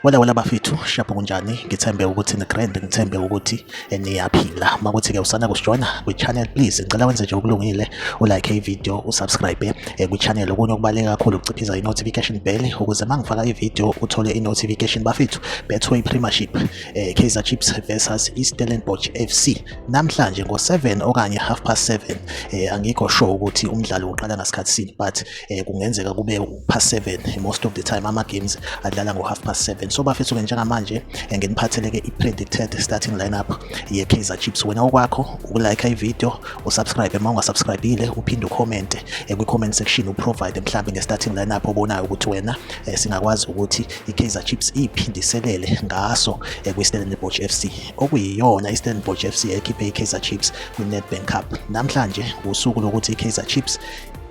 Wala wala bafethu shapho kunjani ngithembe ukuthi ni grand ngithembe ukuthi eh, niyaphila makuthi ke usana kusijoyina kwi channel please ngicela wenze nje okulungile u like i video u subscribe eh, kwi channel okunye okubaleka kakhulu ukuciphiza i notification bell ukuze mangifaka i video uthole i notification bafethu betway premiership eh, Kaizer Chiefs versus iStellenbosch FC namhlanje ngo7 okanye half past 7 eh, angikho sure ukuthi umdlalo uqala ngasikhathi sini but eh, kungenzeka kube past 7 most of the time ama games adlala ngo half past 7 so bafethu ke njengamanje eh, nginiphatheleke i predicted starting lineup ye Kaizer Chiefs wena okwakho ukulike i video usubscribe uma ungasubscribile uphinde ucomment eh, kwi comment section uprovide mhlawumbe nge starting lineup obonayo ukuthi wena eh, singakwazi ukuthi iKaizer Chiefs iphindiselele ngaso eh, kwiStellenbosch FC okuyiyona iStellenbosch FC ekhiphe iKaizer Chiefs kwiNedbank Cup namhlanje usuku lokuthi iKaizer Chiefs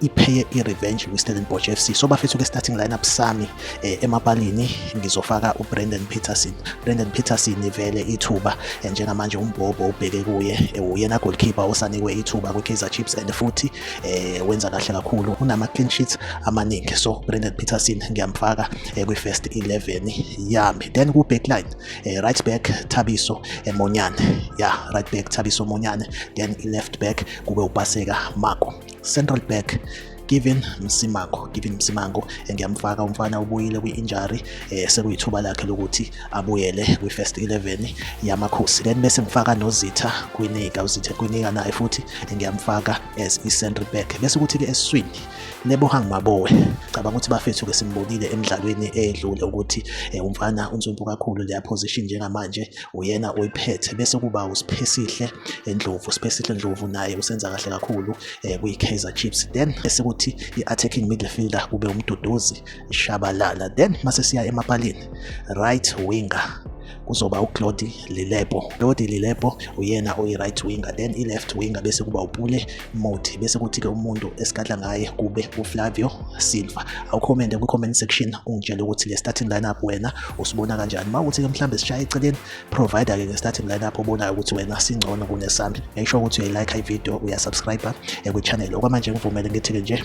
ipheye i-revenge kwi-stellenbosch fc so bafethu ke-starting lineup sami eh, emapalini ngizofaka ubrandon peterson brandon peterson ivele ithuba eh, njengamanje umbhobho ubheke kuye eh, uyena goalkeeper osanikwe ithuba kwi-kaizer chiefs and futhi eh wenza kahle kakhulu unama clean sheets amaningi so Brandon Peterson ngiyamfaka eh, kwi first 11 yami then ku backline eh, right back Thabiso eh, Monyane yeah right back Thabiso Monyane then left back kube upaseka Mako central back Given Msimango Given Msimango ngiyamfaka umfana ubuyile kwi-injury eh sekuyithuba lakhe lokuthi abuyele kwi-first 11 yamakhosi then bese ngifaka nozitha kwinika uzitha kwinika naye futhi ngiyamfaka as i-centre back bese ukuthi-ke esiswini lebohang mabowe cabanga ukuthi bafethu-ke simbonile emidlalweni edlule ukuthi eh, umfana unsumpu kakhulu leya position njengamanje uyena oyiphethe bese kuba usiphesihle endlovu siphesihle ndlovu naye usenza kahle kakhulu um kwi-kaizer chiefs then esekuthi i-attacking midfielder kube umduduzi Shabalala then mase siya emapalini right winger kuzoba uClody Lilepo. Claude Lilepo uyena oyi-right winger then i-left winger bese kuba uPule Mothi bese kuthi-ke umuntu esikadla ngaye kube uFlavio Silva. Awukhomende kwi-comment section ungitshele ukuthi le starting lineup wena usibona kanjani. Uma uthi-ke mhlawumbe sishaye eceleni provider-ke nge-starting lineup obonayo ukuthi wena singcono kunesami. Make sure ukuthi uyayi-like ivideo, uyasubscribe eh, kwi-channel. Okwamanje ngivumele ngithi-ke nje